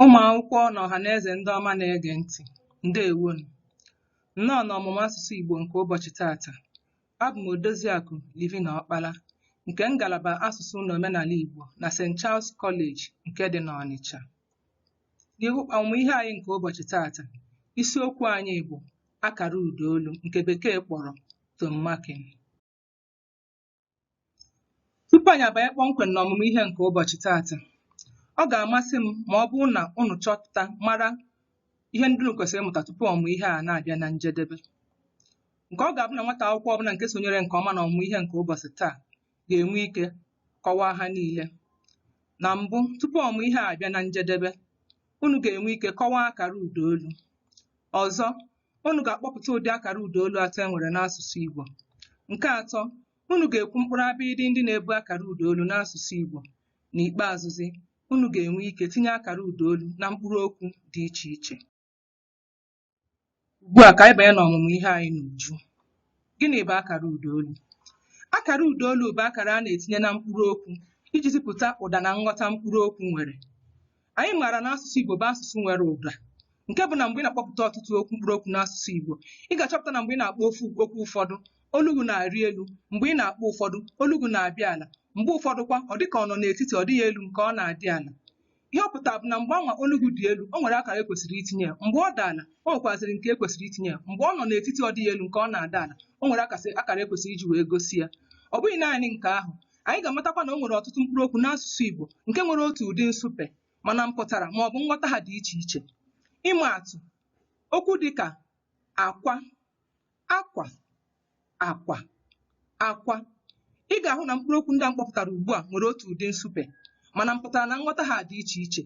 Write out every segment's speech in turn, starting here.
Ụmụ akwụkwọ na ọhaneze ndị ọma na-ege ntị, ndewonu. Nnọọ n'ọmụmụ asụsụ Igbo nke ụbọchị taata. Abụ m Odoziakụ Livina Ọkpala nke ngalaba asụsụ na omenala Igbo na St. Charles College nke dị n'Ọnịcha. N'ihu ọmụmụ ihe anyị nke ụbọchị taata, isiokwu anyị bụ akara ụdaolu nke bekee kpọrọ tone marking. Tupu anyị abanye kpọmkwem n'ọmụmụ ihe nke ụbọchị taata, ọ ga-amasị m ma ọ bụrụ na unu chọpụta mara ihe ndị unu kwesịrị ịmụta tupu ọmụmụ ihe a na-abịa na njedebe. Nke ọ ga-abụ na nwata akwụkwọ ọbụla nke sonyere nke ọma n'ọmụmụ ihe nke ụbọchị taa ga-enwe ike kọwaa ha niile. Na mbụ, tupu ọmụmụ ihe a abịa na njedebe, unu ga-enwe ike kọwaa akara ụdaolu. Ọzọ, Unu ga-akpọpụta ụdị akara ụda olu atọ e nwere n'asụsụ Igbo. Nke atọ, unu ga-ekwu mkpụrụ abịịdị ndị na-ebu akara ụda olu n'asụsụ Igbo. N'ikpeazụzi, unu ga-enwe ike tinye akara ụda olu na mkpụrụ okwu dị iche iche. Ugbu a ka anyị banye n'ọmụmụ ihe anyị n'uju. Gịnị bụ akara ụda olu? Akara ụda olu bụ akara a na-etinye na mkpụrụ okwu iji zipụta ụda na nghọta mkpụrụ okwu nwere. anyị maara na asụsụ Igbo bụ asụsụ nwere ụda nke bụ na mgbe ị na-akpọpụta ọtụtụ okwu mkpụrụ okwu n'asụsụ Igbo ị ga-achọpụta na mgbe ị na-akpọ ofu okwu ụfọdụ olu gị na-arị elu mgbe ị na-akpọ ụfọdụ olu gị na-abịa ala mgbe ụfọdụ kwa ọ dịka ọ nọ n'etiti ọ dịghị elu nke ọ na-adị ala ihe ọ pụtara bụ na mgbe anwa olu gị dị elu o nwere akara e kwesịrị itinye ya mgbe ọ dị ala o nwekwazịrị nke e kwesịrị itinye ya mgbe ọ nọ n'etiti ọ dịghị elu nke ọ na-ada ala o nwere akasị- akara e kwesịrị iji wee gosi ya ọ bụghị naanị nke ahụ Anyị ga-amatakwa na o nwere ọtụtụ mkpụrụ okwu n'asụsụ Igbo nke nwere otu ụdị nsụpe mana mpụtara ma ọ bụ nghọta ha dị iche iche. Ịma atụ, okwu dịka akwa, akwa, akwa, akwa. Ị ga-ahụ na mkpụrụ okwu ndị a m kpọpụtara ugbu a nwere otu ụdị nsụpe mana mpụtara na nghọta ha dị iche iche.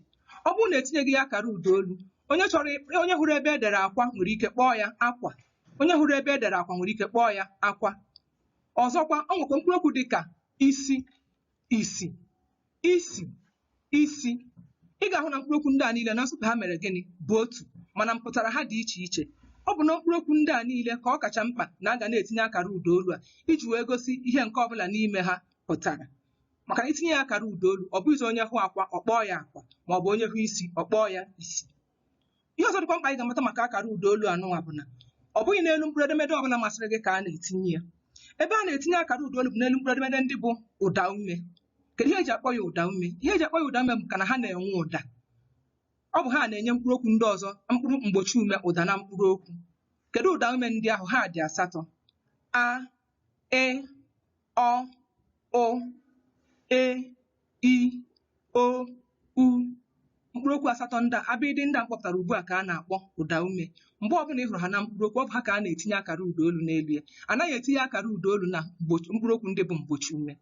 Ọ bụrụ na etinyeghị ya akara ụda olu, onye chọrọ onye hụrụ ebe e dere akwa nwere ike kpọọ ya akwa, onye hụrụ ebe e dere akwa nwere ike kpọọ ya akwa. ọzọkwa o nwekwa mkpụrụ okwu dị ka isi isi isi isi ị ga-ahụ na mkpụrụ okwu ndị a niile na nsụpe ha mere gịnị bụ otu mana mpụtara ha dị iche iche ọ bụ na mkpụrụ okwu ndị a niile ka ọ kacha mkpa na a ga na-etinye akara ụda olu a iji wee gosi ihe nke ọbụla n'ime ha pụtara maka na i tinye ya akara ụda olu ọ bụghịzi onye hụ akwa ọ kpọọ ya akwa ma ọ bụ onye hụ isi ọ kpọọ ya isi ihe ọzọ dịkwa mkpa anyị ga-amata maka akara ụda olu anụnwa bụ na ọ bụghị n'elu mkpụrụ edemede ọbụla masịrị gị ka a na-etinye ya ebe a na-etinye akara ụda olu bụ n'elu mkpụrụ edemede ndị bụ ụda ume kedu ihe e ji akpọ ya ụda ume ihe e ji akpọ ya ụda ume bụ maka na ha na-enwe ụda ọ bụ ha na-enye mkpụrụ okwu ndị ọzọ mkpụrụ mgbochi ume ụda na mkpụrụ okwu kedu ụda ume ndị ahụ ha dị asatọ a ị ọ ụ e i o u mkpụrụ okwu asatọ ndị a abịdị ndị a m kpọpụtara ugbu a ka a na-akpọ ụda ume mgbe ọbụla ị hụrụ ha na mkpụrụ okwu ọ bụ ha ka a na-etinye akara ụda olu n'elu ya anaghị etinye akara ụda olu na mgbochi- mkpụrụ okwu ndị bụ mgbochi ume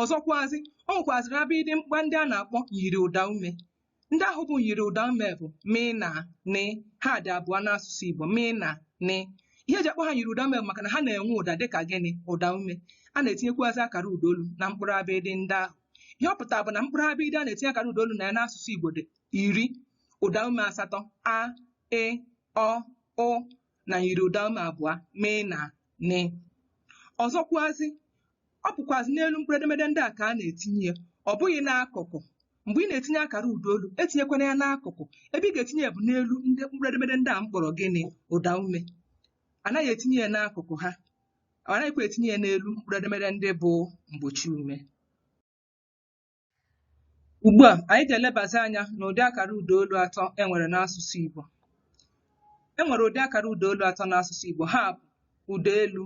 ọzọkwazị o nwekwazịrị abịdị mkpa ndị a na-akpọ myiri ụda ume ndị ahụ bụ myiri ụda ume bụ mi na ni ha dị abụọ n'asụsụ Igbo mi na ni ihe e ji akpọ ha myiri ụda ume bụ maka na ha na-enwe ụda dịka gịnị ụda ume a na-etinyekwuazị akara ụda olu na mkpụrụ abịdị ndị ahụ ihe ọ pụtara bụ na mkpụrụ abịdị a na-etinye akara ụda olu na ya n'asụsụ Igbo dị iri ụda ume asatọ na myiri ụda ume abụọ mi na ni ọzọkwuazị ọ bụkwazị n'elu mkpụrụ edemede ndị a ka a na-etinye ya ọ bụghị n'akụkụ mgbe ị na-etinye akara ụda olu etinyekwana ya n'akụkụ ebe ị ga-etinye ya bụ n'elu ndị mkpụrụ edemede ndị a m kpọrọ gịnị ụda ume anaghị etinye ya n'akụkụ ha anaghịkwa etinye ya n'elu mkpụrụ edemede ndị bụ mgbochi ume Ugbu a, anyị ga-elebazi anya n'ụdị akara ụdaolu atọ e nwere n'asụsụ Igbo. E nwere ụdị akara ụdaolu atọ n'asụsụ Igbo. Ha bụ ụda elu,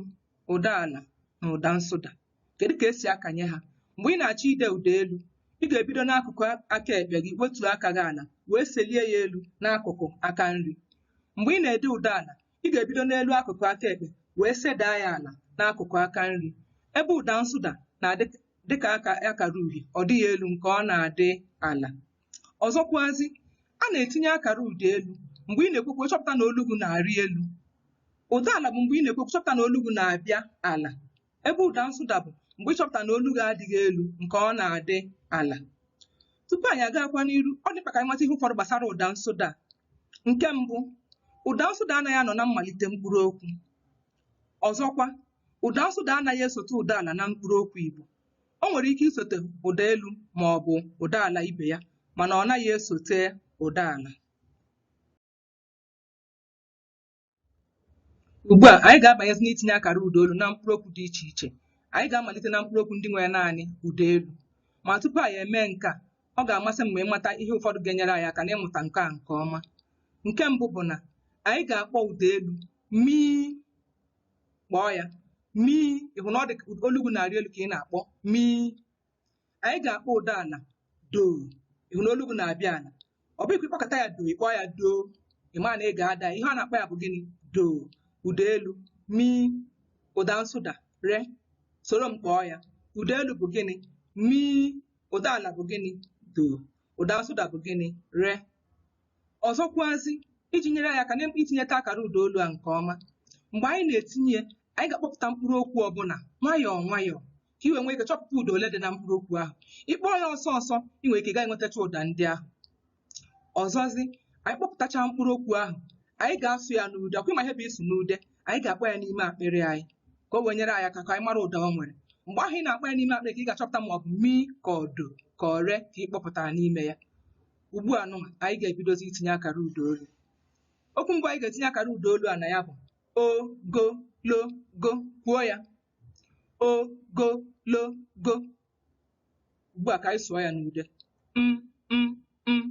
ụda ala na ụda nsụda. Kedu ka e si akanye ha? Mgbe ị na-achọ ide ụda elu, ị ga-ebido n'akụkụ aka ekpe gị wetuo aka gị ala wee selie ya elu n'akụkụ aka nri. Mgbe ị na-ede ụda ala, Ị ga-ebido n'elu akụkụ aka ekpe wee sedaa ya ala n'akụkụ aka nri. Ebe ụda nsụda na-adị ka akara uhie, ọ dịghị elu nke ọ na-adị ala. Ọzọkwazi, a na-etinye akara ụda elu mgbe ị na-ekwu okwu ị chọpụta na olu gị na-arị elu. Ụda ala bụ mgbe ị na-ekwu okwu ị chọpụta na olu gị na-abịa ala. ebe ụda nsụda bụ mgbe ị chọpụtara na olu gị adịghị elu nke ọ na-adị ala tupu anyị agakwa n'iru ọ dị mkpa ka anyị mata ihe ụfọdụ gbasara ụda nsụda a. nke mbụ ụda nsụda anaghị anọ na mmalite mkpụrụ okwu ọzọkwa ụda nsụda anaghị esote ụda ala na mkpụrụ okwu igbo o nwere ike isote ụda elu ma ọ bụ ụda ala ibe ya mana ọ naghị esote ụda ala Ugbu a, anyị ga-abanyezi n'itinye akara ụda olu na mkpụrụ okwu dị iche iche. Anyị ga-amalite na mkpụrụ okwu ndị nwere naanị ụda elu. Ma tupu anyị emee nke a, ọ ga-amasị m ma ị mata ihe ụfọdụ ga-enyere anyị aka n'ịmụta nke a nke ọma. Nke mbụ bụ na anyị ga-akpọ ụda elu mii kpọọ ya mii ị hụ na ọ dị olu gị na-arị elu ka ị na-akpọ mii anyị ga-akpọ ụda ala doo ị hụ na olu gị na-abịa ala ọ bụ ị kpọkata ya doo ị kpọọ ya doo ị ma na ị ga-ada ihe a na-akpọ ya bụ gịnị doo ụda elu mi ụda nsụda re soro m kpọọ ya ụda elu bụ gịnị mi ụda ala bụ gịnị doo ụda nsụda bụ gịnị re ọzọkwazi iji nyere anyị aka na itinyeta akara ụda olu a nke ọma mgbe anyị na-etinye ya anyị ga-akpọpụta mkpụrụ okwu ọbụla nwayọọ nwayọọ ka i wee nwee ike chọpụta ụda ole dị na mkpụrụ okwu ahụ ị kpọọ ya ọsọ ọsọ ị nwere ike gaa enwetacha ụda ndị ahụ ọzọzi anyị kpọpụtacha mkpụrụ okwu ahụ anyị ga-asụ ya n'ude ọ kwa ị ma ihe bụ ịsụ n'ude anyị ga-akpọ ya n'ime akpịrị anyị ka o wee nyere anyị aka ka anyị mara ụda o nwere mgbe ahụ ị na-akpọ ya n'ime akpịrị ka ị ga-achọpụta ma ọ bụ mi ka ọ do ka ọ re ka ị kpọpụtara n'ime ya ugbu a nụnwa anyị ga-ebidozi itinye akara ụda olu okwu mbụ anyị ga-etinye akara ụda olu a na ya bụ o go lo go kwuo ya ogologo ugbu a ka anyị sụọ ya n'ude m m m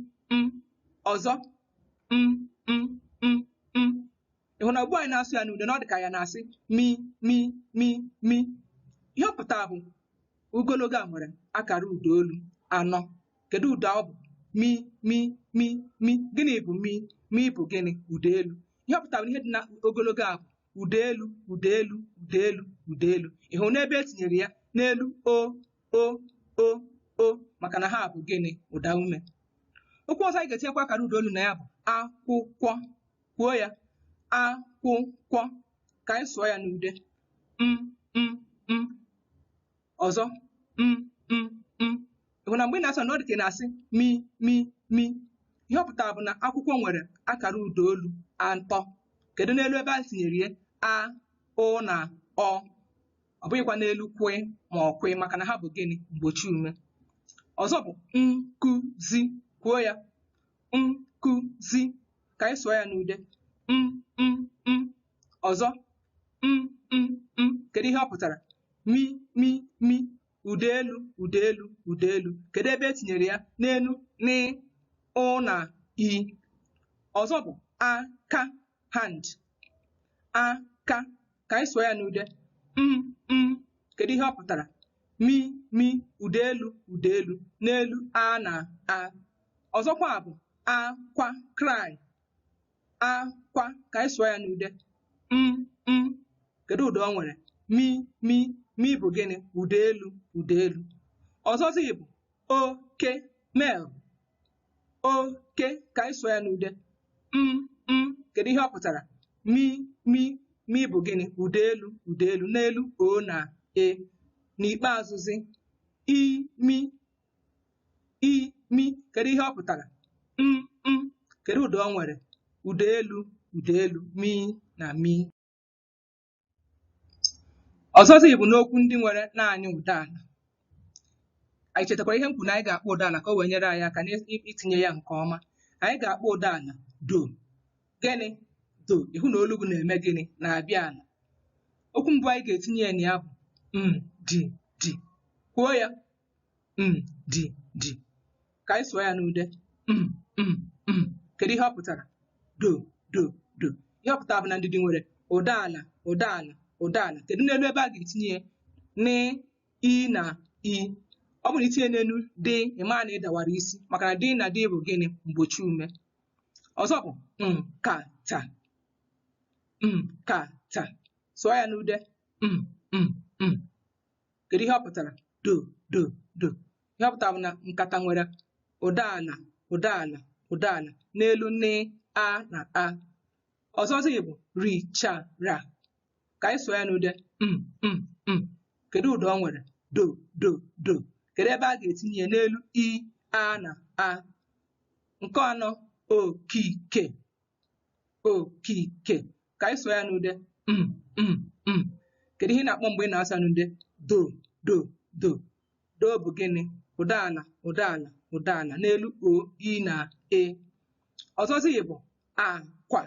m ọzọ m m m m ị hụ na ugbu a anyị na-asụ ya n'ude na ọ dị ka ya na-asị mi mi mi mi ihe ọ pụtara bụ ogologo a nwere akara ụda olu anọ kedu ụda ọ bụ mi mi mi mi gịnị bụ mi mi bụ gịnị ụda elu ihe ọ pụtara bụ na ihe dị na ogologo a bụ ụda elu ụda elu ụda elu ụda elu ị hụ na ebe e tinyere ya n'elu o o o o maka na ha bụ gịnị ụda ume okwu ọzọ anyị ga-etinyekwa akara ụda olu na ya bụ akwụkwọ kwuo ya akwụkwọ ka anyị sụọ ya n'ude m m m ọzọ m m m ị hụ na mgbe ị na-asụ na ọ dị ka ị na-asị mi mi mi ihe ọ pụtara bụ na akwụkwọ nwere akara ụda olu atọ kedu n'elu ebe e tinyere ya a ụ na ọ ọ bụghịkwa n'elu kw ma ọ kw maka na ha bụ gịnị mgbochi ume ọzọ bụ nkụzi kwuo ya nkụzi ka anyị sụọ ya n'ude m m m ọzọ m m m kedu ihe ọ pụtara mi mi mi ụda elu ụda elu ụda elu kedu ebe e tinyere ya n'elu n ụ na i ọzọ bụ aka hand aka ka anyị sụọ ya n'ude m m kedu ihe ọ pụtara mi mi ụda elu ụda elu n'elu a na a ọzọkwa bụ akwa cry akwa ka anyị sụọ ya n'ude m m kedu ụda o nwere mi mi mi bụ gịnị ụda elu ụda elu ọzọzi bụ oke male oke ka anyị sụọ ya n'ude m m kedu ihe ọ pụtara mi mi mi bụ gịnị ụda elu ụda elu n'elu o na e n'ikpeazụzi imi imi kedu ihe ọ pụtara m m kedu ụda o nwere ụda elu ụda elu mi na mi ọzọzi bụ n'okwu ndị nwere naanị ụda ala anyị chetakwara ihe m kwuru na anyị ga-akpọ ụda ala ka o wee nyere anyị aka n'itinye ya nke ọma anyị ga-akpọ ụda ala do gịnị do ị hụ na olu gị na-eme gịnị na-abịa ala okwu mbụ anyị ga-etinye ya na ya bụ ndidi kwuo ya ndidi ka anyị sụọ ya n'ude m m m kedu ihe ọ pụtara do do do ihe ọ pụtara bụ na ndidi nwere ụda ala ụda ala ụda ala kedu n'elu ebe a ga-etinye ya n i na i ọ bụrụ i tinye n'elu d ị ma na ị dawara isi maka na d na d bụ gịnị mgbochiume ọzọ bụ nkata nkata sụọ ya n'ude m m m kedu ihe ọ pụtara do do do ihe ọ pụtara bụ na nkata nwere ụda ala ụda ala ụda ala n'elu n a na a ọzọzi bụ richara ka anyị sụọ ya n'ude m m m kedu ụda o nwere do do do kedu ebe a ga-etinye ya n'elu i a na a nke anọ okike okike ka anyị sụọ ya n'ude mm, mm, mm. kedu ihe ị na-akpọ mgbe ị na-asụ ya n'ude do do do do bụ gịnị ụda ala ụda ala ụda ala n'elu o i na e ọzọzi bụ akwa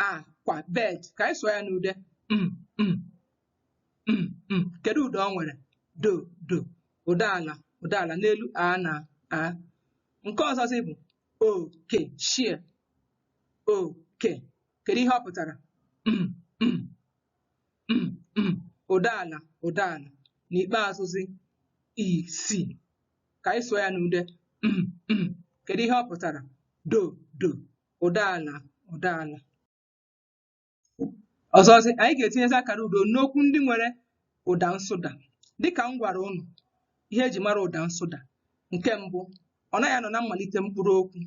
akwa bed ka anyị sụọ ya n'ude mm, mm, mm, mm. kedu ụda o nwere do do ụda ala ụda ala n'elu a na a nke ọzọzi bụ oke share oke kedu ihe ọ pụtara Mm, mm, mm, mm. ụda ala ụda ala n'ikpeazụzi isi ka anyị sụọ ya n'ude Mm, mm. kedu ihe ọ pụtara do do ụda ala ụda ala ọzọzi anyị ga-etinyezi akara ụda n'okwu ndị nwere ụda nsụda dịka m gwara ụnụ ihe eji mara ụda nsụda nke mbụ ọ naghị anọ na mmalite mkpụrụ okwu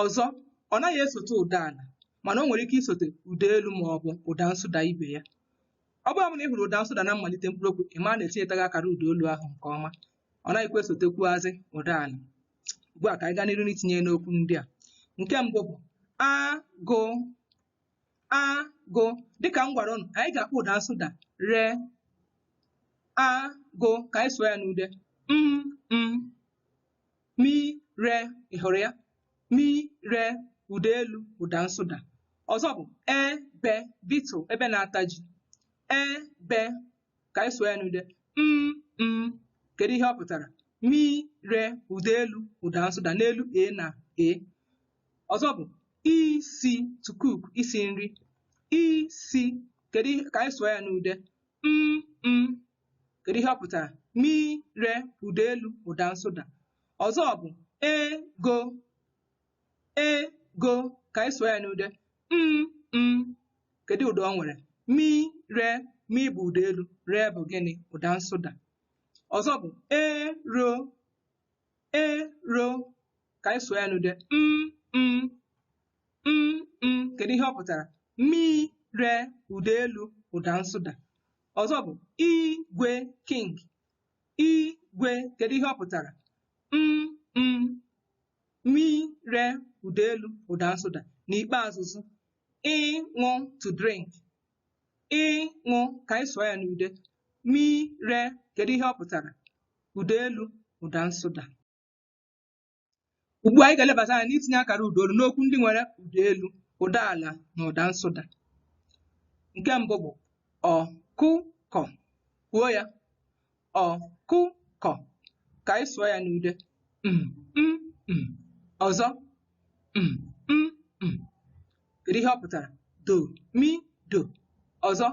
ọzọ ọ naghị esote ụda ala mana o nwere ike isote ụda elu ma ọ bụ ụda nsụda ibe ya ọ bụrụ na ị hụrụ ụda nsụda na mmalite mkpụrụ okwu ị ma na etinyetaghị akara ụda olu ahụ nke ọma ọ naghịkwa esotekwuazị ụda ala ugbu a ka anyị gaa n'iru n'itinye n'okwu ndị a nke mbụ bụ agụ a gụ dịka m gwara ụnụ anyị ga-akpọ ụda nsụda re a gụ ka anyị sụọ ya n'ude m m mi re ị hụrụ ya mi re ụda elu ụda nsụda ọzọ bụ ebe beetle ebe na-ata ji ebe ka anyị sụọ ya n'ude m m kedu ihe ọ pụtara mi re ụda elu ụda nsụda n'elu e na e ọzọ bụ isi to cook isi nri isi ka anyị sụọ ya n'ude m m kedu ihe ọ pụtara mi re ụda elu ụda nsụda ọzọ bụ ego ego ka anyị sụọ ya n'ude m m kedu ụda ọ nwere mi re mi bụ ụda elu re bụ gịnị ụda nsụda ọzọ bụ ero e ro ka anyị sụọ ya n'ude m m m m kedu ihe ọ pụtara mi re ụda elu ụda nsụda ọzọ bụ igwe king igwe kedu ihe ọ pụtara m m mi re ụda elu ụda nsụda n'ikpeazụ zụ ịṅụ to drink ịṅụ ka anyị sụọ ya n'ude mi re kedu ihe ọ pụtara ụda elu ụda nsụda ugbu a anyị ga-elebata anya n'itinye akara ụda olu n'okwu ndị nwere ụda elu ụda ala na ụda nsụda nke mbụ bụ ọkụkọ kwuo ya ọkụkọ ka anyị sụọ ya n'ude mm, mm, mm. ọzọ mm, mm, mm. kedu ihe ọ pụtara do mi do ọzọ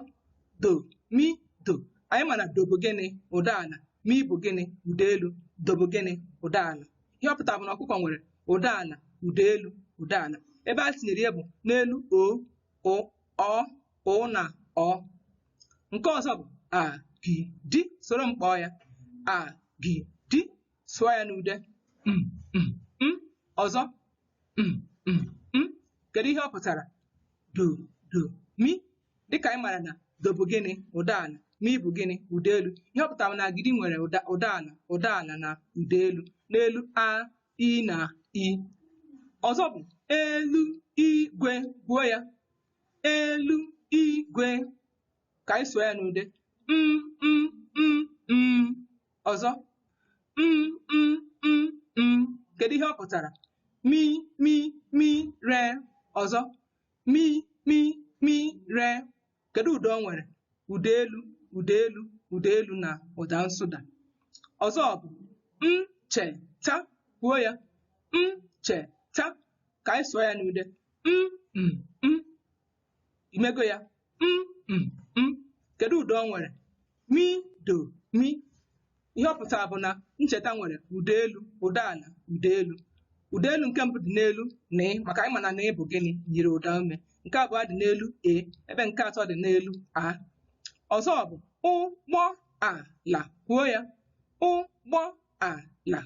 do mi do anyị ma na do bụ gịnị ụda ala mi bụ gịnị ụda elu do bụ gịnị ụda ala ihe ọ pụtara bụ na ọkụkọ nwere ụda ala ụda elu ụda ala ebe a tinyere ya bụ n'elu ọ ụ na ọ nke ọzọ bụ a gi di soro m kpọọ ya a gi di sụọ ya n'ude m m m ọzọ m m m kedu ihe ọ pụtara do do mi dịka anyị mara na do bụ gịnị ụda ala mi bụ gịnị ụda elu ihe ọ pụtara na agidi nwere ụda ụda ala ụda ala na ụda elu n'elu a i na i ọzọ bụ elu igwe kwuo ya elu igwe ka anyị sụọ ya n'ude m m m m ọzọ m m m m kedu ihe ọ pụtara mi mi mi re ọzọ mi mi mi re kedu ụda o nwere ụda elu ụda elu ụda elu na ụda nsụda ọzọ bụ ncheta kwuo ya ncheta ka anyị sụọ ya n'ude m m m i mego ya m m m kedu ụda o nwere mi do mi ihe ọ pụtara bụ na ncheta nwere ụda elu ụda ala ụda elu ụda elu nke mbụ dị n'elu n maka anyị ma na n bụ gịnị yiri ụdaume nke abụọ dị n'elu e ebe nke atọ dị n'elu a ọzọ bụ ụgbọ ala kwuo ya ụgbọ ala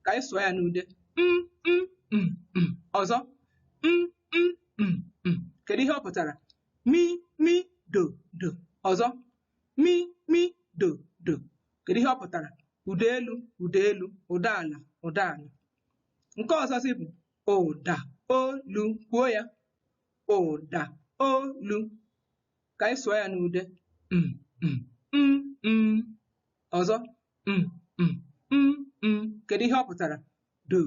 ka anyị sụọ ya n'ude m m m m ọzọ m m m m kedu ihe ọ pụtara mi mi do do ọzọ mi mi do do kedu ihe ọ pụtara ụda elu ụda elu ụda ala ụda ala nke ọzọzi bụ ụda olu kwuo ya ụda olu ka anyị sụọ ya n'ude mm, mm, mm, mm. ọzọ mm, mm, mm, mm. kedu ihe ọ pụtara do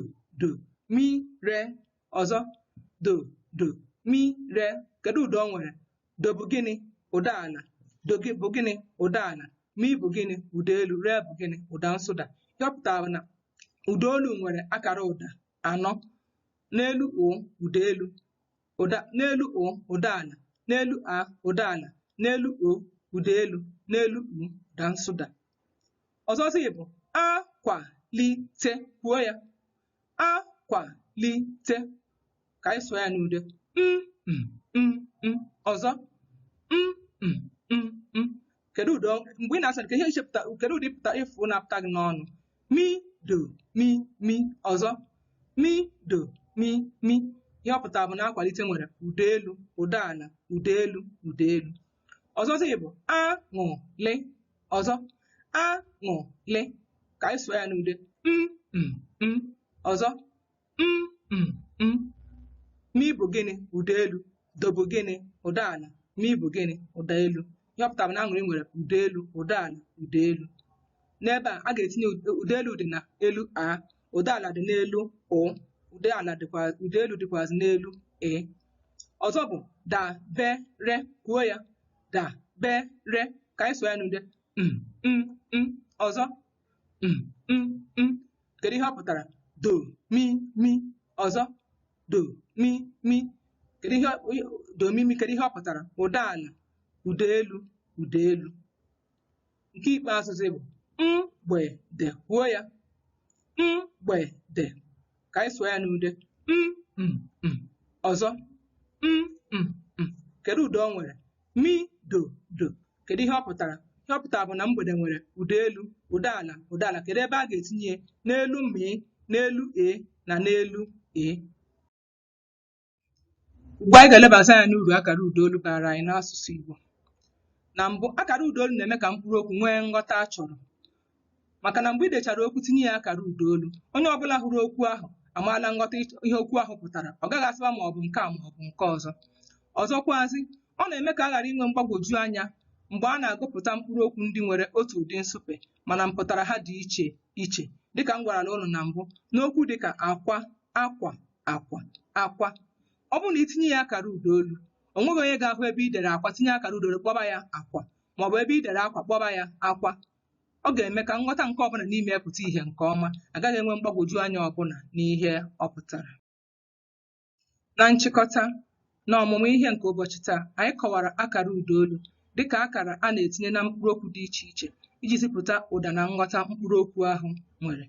do mi re ọzọ do do mi re kedu ụda o nwere do bụ gịnị ụda ala do zi bụ gịnị ụda ala mi bụ gịnị ụda elu re bụ gịnị ụda nsụda ihe ọ pụtara na ụda olu nwere akara ụda anọ n'elu ụ ụda elu ụda n'elu ụ ụda ala n'elu a ụda ala n'elu o ụda elu n'elu u ụda nsụda ọzọzi bụ akwalite kwuo ya akwalite ka anyị sụọ ya n'ude m m m m ọzọ m m m m kedu ụda ọ- mgbe ị na-asụ ka i chepụta kedu ụdị pụta ị fụ na-apụta gị n'ọnụ mi do mi mi ọzọ mi do mi mi ihe ọ pụtara bụ na akwalite nwere ụda elu ụda ala ụda elu ụda elu ọzọzi bụ aṅụlị ọzọ aṅụlị ka anyị sụọ ya n'ude m m m ọzọ Mi bụ gịnị? Ụda elu. Do bụ gịnị? Ụda ala. Mi bụ gịnị? Ụda elu. Ihe ọ pụtara bụ na Aṅụrị nwere ụda elu, ụda ala, ụda elu. N'ebe a ga-etinye ụda elu dị na elu a, ụda ala dị n'elu ụ, ụda ala dịkwa ụda elu dịkwazị n'elu ị. Ọzọ bụ dabere, kwuo ya dabere ka anyị sụọ ya n'ude m m m. Ọzọ m m m kedu ihe ọ pụtara do mi mi ọzọ do mi mi kedu ihe do mi mi kedu ihe ọ pụtara ụda ala ụda elu ụda elu nke ikpeazụzi bụ mgbede kwuo ya mgbede ka anyị sụọ ya n'ude m m m ọzọ m m m kedu ụda ọ nwere mi do do kedu ihe ọ pụtara ihe ọ pụtara bụ na mgbede nwere ụda elu ụda ala ụda ala kedu ebe a ga-etinye ya? n'elu mi n'elu e na n'elu e Ugbu a anyị ga-elebata anya n'uru akara ụdaolu baara anyị n'asụsụ Igbo. Na mbụ, akara ụdaolu na-eme ka mkpụrụ okwu nwee nghọta a chọrọ. Maka na mgbe i dechara okwu tinye ya akara ụdaolu, onye ọbụla hụrụ okwu ahụ amaala nghọta ihe okwu ahụ pụtara. Ọ gaghị asịwa ma ọ bụ nke a ma ọ bụ nke ọzọ. Ọzọkwazị, ọ na-eme ka a ghara inwe mgbagwoju anya mgbe a na-agụpụta mkpụrụ okwu ndị nwere otu ụdị nsụpe mana mpụtara ha dị iche iche. Dịka m gwarala ụnụ na mbụ, na okwu dịka akwa, akwa, akwa akwa ọ bụrụ na i tinye ya akara ụda olu o nweghị onye ga-ahụ ebe i dere akwa tinye akara ụda olu kpọba ya akwa maọbụ ebe i dere akwa kpọba ya akwa ọ ga-eme ka nghọta nke ọbụla n'ime ya pụta ihe nke ọma a gaghị enwe mgbagwoju anya ọbụla n'ihe ọ pụtara na nchịkọta N'ọmụmụ ihe nke ụbọchị taa, anyị kọwara akara ụdaolu dịka akara a na-etinye na mkpụrụokwu dị iche iche iji zipụta ụda na nghọta mkpụrụokwu ahụ nwere.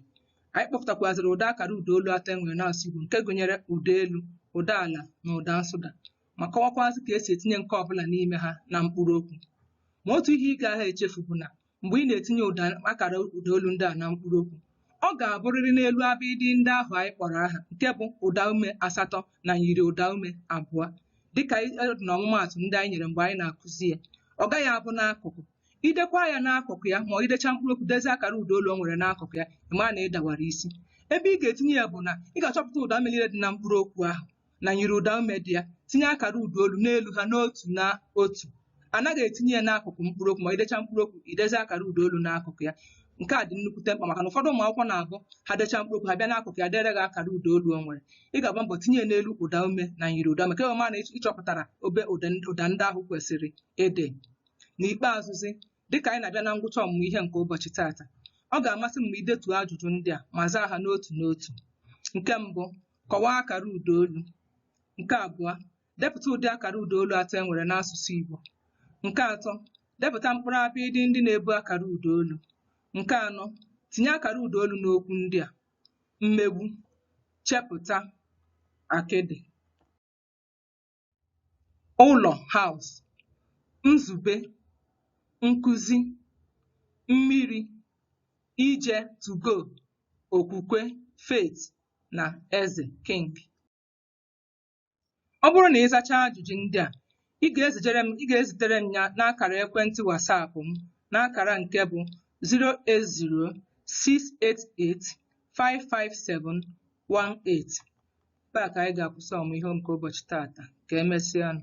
Anyị kpọpụtakwazịrị ụdị akara ụdaolu atọ e nwere n'asụsụ Igbo nke gụnyere ụda elu, ụda ala na ụda nsụda ma kọwakwazị ka e si etinye nke ọbụla n'ime ha na mkpụrụokwu. Ma otu ihe ị gaghị echefu bụ na mgbe ị na-etinye ụda akara ụda olu ndị a na mkpụrụ okwu ọ ga-abụrịrị n'elu abịdịị ndị ahụ anyị kpọrọ aha nke bụ ụda ume asatọ na myiri ụda ume abụọ dịka e- dị na ọmụmaatụ ndị anyị nyere mgbe anyị na-akụzi ya ọ gaghị abụ n'akụkụ i dekwaa ya n'akụkụ ya ma ọ i dechaa mkpụrụ okwu dezie akara ụda olu o nwere n'akụkụ ya ị ma na ị dawara isi ebe ị ga-etinye ya bụ na ị ga-achọpụta ụda ume liile dị na mkpụrụ okwu ahụ na myiri ụda ume dị ya tinye akara ụda olu n'elu ha n'otu na otu a naghị etinye ya n'akụkụ mkpụrụ okwu ma i dechaa mkpụrụ okwu i dezie akara ụda olu n'akụkụ ya nke a dị nnukwute mkpa maka na ụfọdụ ụmụ akwụkwọ na-abụ ha dechaa mkpụrụ okwu ha bịa n'akụkụ ya dere gị akara ụda olu o nwere ị ga-agba mbọ tinye ya n'elu ụda ume na myiri ụda ume ka a ma na ị chọpụtara ebe ụda ụda ndị ahụ kwesịrị ịdị n'ikpeazụzi Dịka anyị na-abịa na ngwụcha ọmụmụ ihe nke ụbọchị taata, ọ ga-amasị m ma i detuo ajụjụ ndị a ma zaa ha n'otu n'otu. Nke mbụ, kọwaa akara ụda olu. Nke abụọ, depụta ụdị akara ụda olu atọ e nwere n'asụsụ Igbo. Nke atọ, depụta mkpụrụ abịịdị ndị na-ebu akara ụda olu. Nke anọ, tinye akara ụda olu n'okwu ndị a: mmegbu, chepụta, akịdị. ụlọ house nzube nkuzi mmiri ije to go okwukwe faith na eze king ọ bụrụ na ị zachaa ajụjụ ndị a ị ga-ezitere m ya n'akara ekwentị wasapụ m n'akara nke bụ 080688571 18 ebe a ka anyị ga-akwụsị ọmụmụ ihe nke ụbọchị taata ka emesịa nụ